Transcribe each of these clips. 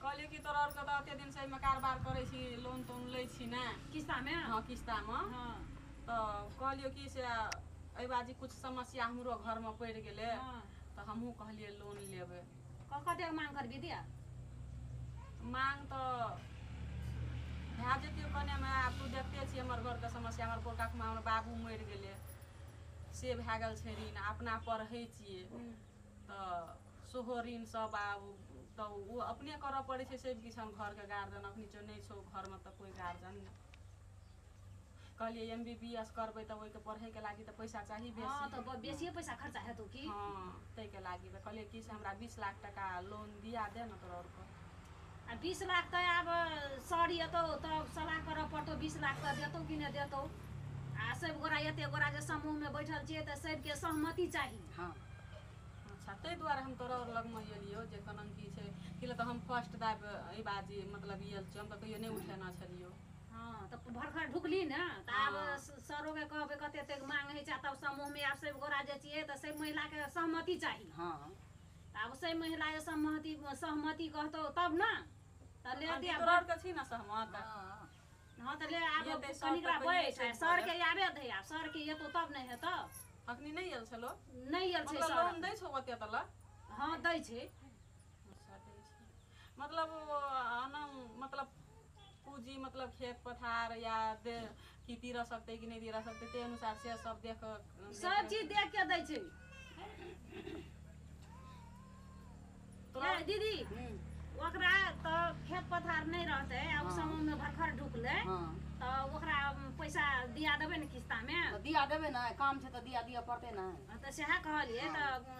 कहलियै कि तोरा आरके तऽ एते दिनसँ एहिमे कारबार करै छी लोन तोन लै छी ने किस्तामे हँ किस्तामे हँ तऽ कहलियौ कि से एहि बाजी किछु समस्या हमरो घरमे पड़ि गेलै हँ। तऽ हमहूँ कहलियै लोन लेबै क- कतेक मांग करबी दिया मांग तऽ भए जेतियौ कनेमे आब तू देखते छी हमर घरके समस्या हमर पोरकाखमे हमर बाबू मरि गेलै से भए गेल छै ऋण अपना पढ़ै छियै तऽ सेहो ऋण सब आब तऽ ओ अपने करऽ पड़ै छै सब किछु हम घरके गार्जियन अखनी जो नहि छौ घरमे तऽ कोइ गार्जियन नहि कहलियै एम बी बी एस करबै तऽ ओहिके पढ़ैके लागि तऽ पैसा चाही बेसी हँ तऽ बेसिए पैसा खर्चा हेतौ की हँ ताहिके लागि तऽ कहलियै कि से हमरा बीस लाख टाका लोन दिया दे ने तोरा आओरके आ बीस लाख तऽ आब सर एतौ तऽ सलाह करऽ पड़तौ बीस लाख तऽ देतौ कि नहि देतौ आ सभ गोरा एते गोरा जे समूहमे बैठल छियै तऽ सभके सहमति चाही हँ अच्छा ताहि दुआरे हम तोरा लगमे एलियौ जे केना की छै कि तऽ हम फर्स्ट दाब एहि बात जे मतलब ई छियै हम तऽ कहियो नहि उठेना छलियौ हँ तऽ भरखर ढुकली ने तऽ आब हँ। सरोके कहबै कते एतेक मांग होइ छै तब समूहमे आब सभ गोरा जे छियै तऽ सभ महिलाके सहमति चाही हँ आब से महिला जे सहमति सहमति कहतौ तब ने तऽ ले दे तोरा छी ने सहमत हँ तऽ ले आब कनिकरा बैठ सरके आबे दै आब सरके एतौ तब ने हेतौ अखनी नहि आयल छलो नहि आयल छै मतलब लोन दै छौ ओते तला हँ दै छै मतलब मतलब पूजी मतलब खेत पथार या दे कि दीरा सकते कि नहि दीरा सकते ते अनुसार से सब देख कऽ- सब चीज देख के दै छै तोरा ए, दीदी हम्म, ओकरा तऽ खेत पथार नहि रहतै आ ओ हँ। समूह मे भरखर ढुकलै हाँ तऽ ओकरा पैसा दिया देबै ने किस्ता मे तो दिया देवे ना काम छे तो दिया दिया पड़ते ना तऽ सएह कहलियै तऽ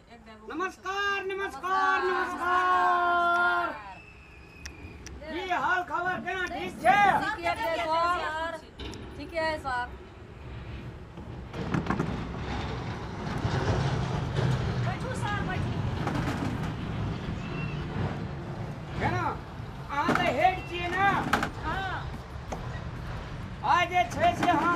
नमस्कार नमस्कार नमस्कार की हाल खबर केना ठीक छै ठीके छै सर ठीके है सर बैठू सर बैठू केना अहाँ तऽ हेड छियै ने हाँ आज जे छै से अहाँ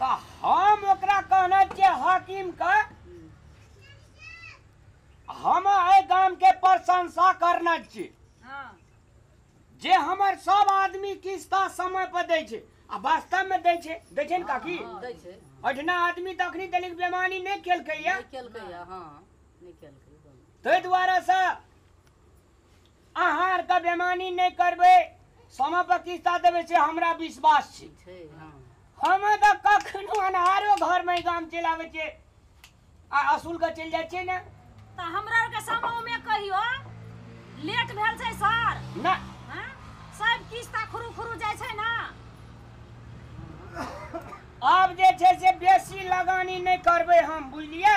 तऽ हम ओकरा कहने छियै हाकिम के हम एहि गाम के प्रशंसा करने छियै हाँ जे हमर सब आदमी किस्ता समय पर दै छै आ वास्तव में दै छै दै छै ने काकी हाँ, दै छै ओहिठिना आदमी तऽ अखनी तलिक बेमानी नहि केलकैया नहीं केलकै या हाँ नहीं केलकै ताहि दुआरे से अहाँ आरके बेमानी नहि करबै समय पर किस्ता देबै से हमरा विश्वास छै छै हँ हम तऽ कखनो अनहारो घरमे ई गाम चलि आबै छियै आ असुल के चलि जाइ छियै ने तऽ हमरा आरके समूहमे कहियो लेट भेल छै सर ना हँ? सब किस्ता खुरू खुरू जाइ छै ने आब जे छै से बेसी लगानी नहि करबै हम बुझलियै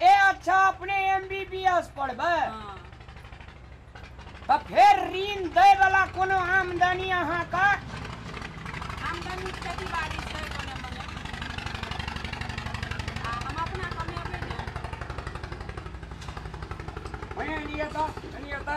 ए अच्छा अपने एमबीबीएस पढ़बै हाँ तऽ फेर ऋण दै वाला कोनो आमदनी अहाँके आमदनी खेती बाड़ी छै कोने मने आ हम अपना कमेबै ने भने एनी एता एनी एता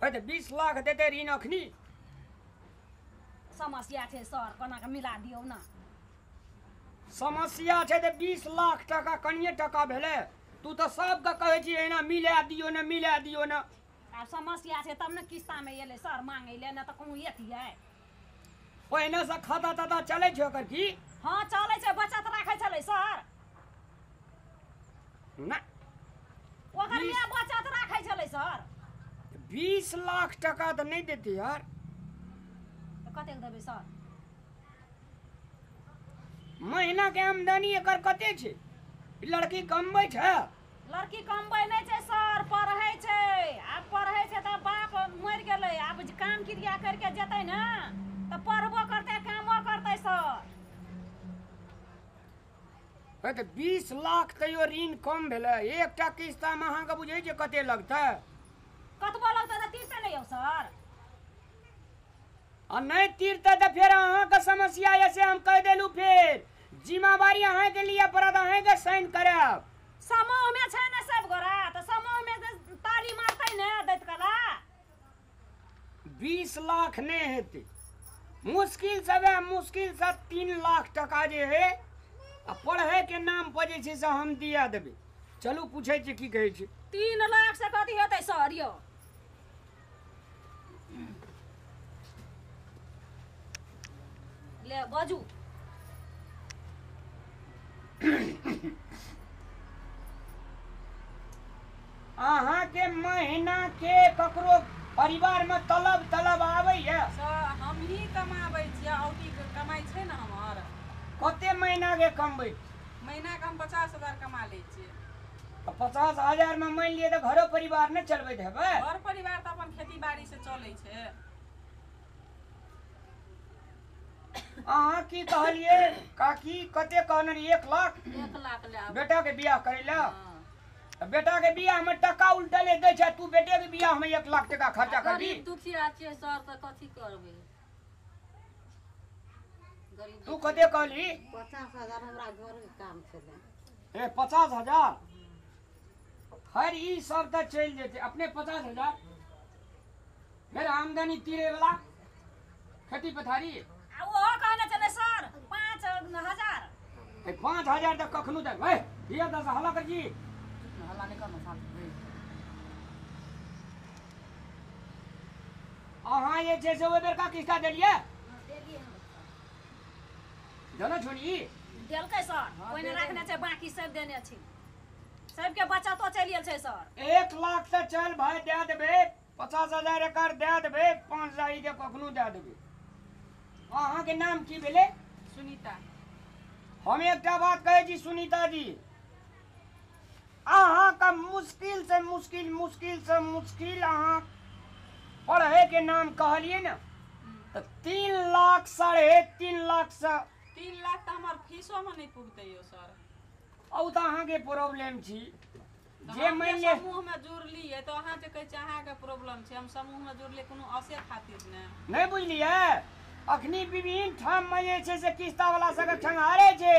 भाई तो बीस लाख देते ऋण अखनी समस्या छै सर कोना के मिला दियौ ना समस्या छै तऽ बीस लाख टाका कनिए टाका भेलै तू तऽ सबके कहै छी एना मिला दियो ने मिला दियो ने आब समस्या छै तब ने किस्ता में एलै सर मांगे ले ना तऽ कहूँ एतियै ओहिना से खाता ताता चलै छै ओकर की हँ चलै छै बचत राखै छलै सर ना ओकर बीस- माय बचत राखै छलै सर बीस लाख टका तऽ नहि देतै यार तऽ कतेक देबै सर महीना के आमदनी एकर कते छै ई लड़की कमबै छै लड़की कमबै नहि छै सर पढ़ै छै आब पढ़ै छै तऽ बाप मरि गेलै आब काम क्रिया करि कऽ जेतै ने तऽ पढ़बो करतै कामो करतै सर हे तऽ बीस लाख तैयो ऋण कम भेलै एकटा किस्तामे अहाँके बुझै छियै कते लगतै कतबो लगतै तऽ तीरते नहि यौ सर आ नहि तीरतै तऽ फेर अहाँके समस्या यए से हम कहि देलहुँ फेर जिम्मेवारी अहाँके लिए पड़त अहाँके साइन करब समूहमे छै ने सब गोरा तऽ समूहमे तऽ तारी मारतै ने दैत कला बीस लाख नहि हेतै मुश्किल से वएह मुश्किल से तीन लाख टका जे है आ पढ़ैके नाम पर जे छै से हम दिया देबै चलू पूछै छी की कहै छै तीन लाख से कथी हेतै सर यौ ले बाजू अहाँ के महीना के ककरो परिवार में तलब तलब आबै है स- हमही कमाबै छियै औटी के कमाइ छै ने हमर कते महीना के कमबै महीनाके हम पचास हजार कमा लै छियै पचास हजार में मान लिए तो घरो परिवार न चलबैत हेबै घर परिवार तो अपन खेती बाड़ी से चले छे अहाँ की कहलिए काकी कते कहने रही एक लाख एक लाख ले आब बेटा के बियाह करे ला हाँ। बेटा के बियाह में टका उल्टले दे छै तू बेटे के बियाह में एक लाख टका खर्चा करबी गरीब दुखिया छियै सर तऽ कथी करबै गरीब तू कते कहली पचास हजार हमरा घरके काम छलै हे पचास हजार हर ई सब तऽ चलि जेतै अपने पचास हजार फेर आमदनी तीरे वाला खेती पथारी आ ओहो कहने छलै सर पाँच हजार हे पाँच हजार तऽ कखनो देब हे हिया दस हला कर जी हल्ला नहि करना साथ अहाँ जे छै से ओहि बेरका किस्ता देलियै देलियै हम देलहुँ छोड़ी देलकै सर ओहिने राखने छै बाकी सब देने छी सबके बचतो चलि गेल छै सर एक लाख से चल भाय दए देबै पचास हजार एकड़ दए देबै पाँच हजार ई के कखनो दए देबै अहाँके नाम की भेलै सुनीता हम एकटा बात कहै छी सुनीता जी अहाँके मुश्किल से मुश्किल मुश्किल से मुश्किल अहाँ पढ़े के नाम कहलिए ना तो तीन लाख साढ़े तीन लाख से तीन लाख तऽ हमर फीसो मे नहि पुगतै यौ सर औ तो अहाँ के प्रॉब्लम छी तऽ जे हम मानि जे ले समूह मे जुड़लियै तऽ अहाँ जे कहै छी अहाँके प्रॉब्लम छै हम समूह मे जुड़लियै कोनो असे खातिर ने नहीं बुझलिए अखनी विभिन्न ठाम में जे छै से किस्ता वाला सबके ठंगारे छै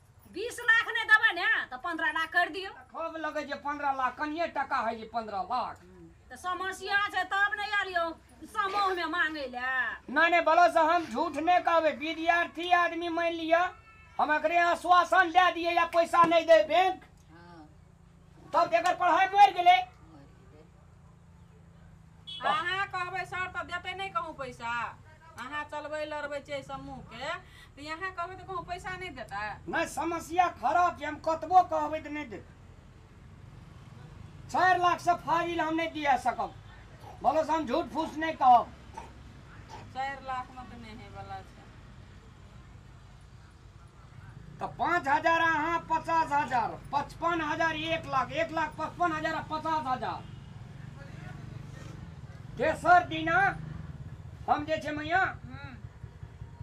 बीस लाख नहि देबै ने तऽ पंद्रह लाख करि दियौ खोब लगे जे पंद्रह लाख कनिए टाका है जे पंद्रह लाख तऽ समस्या छै तब नहि एलियौ समूहमे मांगै लए नहि नहि बोलो से हम झूठ नहि कहबै विद्यार्थी आदमी मानि लिअ हम एकरे आश्वासन दए दिए या पैसा नहि दे बैंक तब जेकर पढ़ाई मर गेले अहाँ कहबै सर तऽ देतै नहि कहूँ पैसा अहाँ चलबै लड़बै छियै समूहके तऽ यहाँ कहबै तऽ कहूँ पैसा नहि देता नहि समस्या खराब छै हम कतबो कहबै तऽ नहि देत चारि लाख से फाजिल हम नहि दिया सकब बोलो से हम झूठ फूस नहीं कहब चारि लाखमे तऽ नहि हेबला छै तऽ पाँच हजार अहाँ पचास हजार पचपन हजार एक लाख एक लाख पचपन हजार पचास हजार तेसर दिना हम जे छै मैया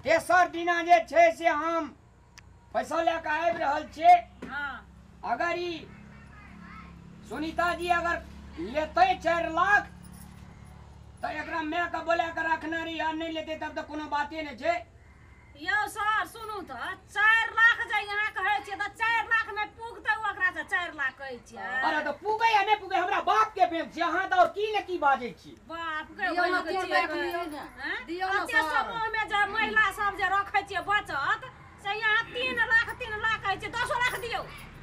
तेसर दिना जे छै से हम पैसा लए कऽ आबि रहल छियै अगर ई सुनीता जी अगर लेतै चारि लाख तऽ एकरा मायके बोला कऽ रखने रही आ नहि लेतै तब तऽ कोनो बाते नहि छै यौ सर सुनू तऽ चारि लाख जे अहाँ कहै छियै तऽ चारि लाख मे पुगतै ओकरा से चारि लाख कहै छियै अरे तऽ पुगे या नहि पुगे हमरा बाप के बेम छी अहाँ तऽ और की ने की बाजै छी बाप के दियौ ने, बहिन के दियौ ने, छियै। दियौ ने। हैं? दियौ ने, कते सर। समूह मे जे महिला सब जे रखै छियै बचत से यहाँ तीन लाख तीन लाख कहै छियै दसो लाख दियौ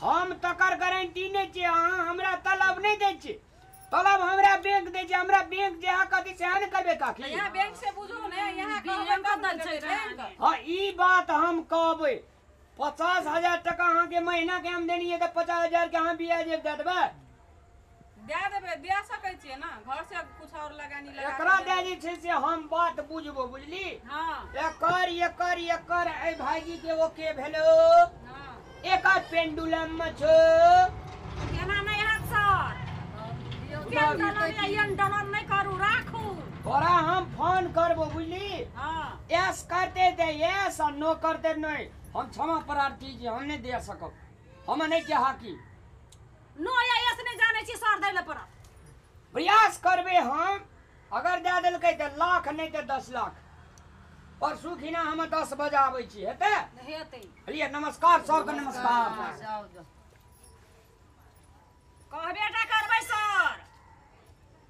हम तकर गारंटी नहि छै अहाँ हमरा तलब नहि दै छी तलब हमरा बैंक दै छै हमरा बैंक जे अहाँ कहतै सएह ने करबै काकी यहाँ बैंक से बुझू ने यहाँ कहबै तब ने देबै बैंक। हाँ ई बात हम कहबै पचास हजार टका अहाँके महीना के आमदनी है तऽ पचास हजार के अहाँ ब्याज दे देबै दए देबै दए सकै छियै ने घर से कुछ और लगानी लगा एकरा दए जे छै से हम बात बुझबो बुझली हँ एकर एकर एकर ए भाईजी के ओ के भेलो हँ एकर पेंडुलम में छो एना नहि हैत सर केहन डलर यऽ एहन डलर नहि करू राखू तोरा हम फोन करबो बुझली हँ एस करते दे एस और नो करते नहीं हम क्षमा प्रार्थी जी हम नहीं दे सकब हम नहीं के हाकी नय आइए से नहि जानै छी सर दै लए पड़त प्रयास करबै हम अगर दए देलकै तऽ लाख नहि तऽ दस लाख परसू खिना हम दस बजे आबै छी हेतै हेतै बुझलियै नमस्कार सबके नमस्कार जाओ जाओ कहबे टा करबै सर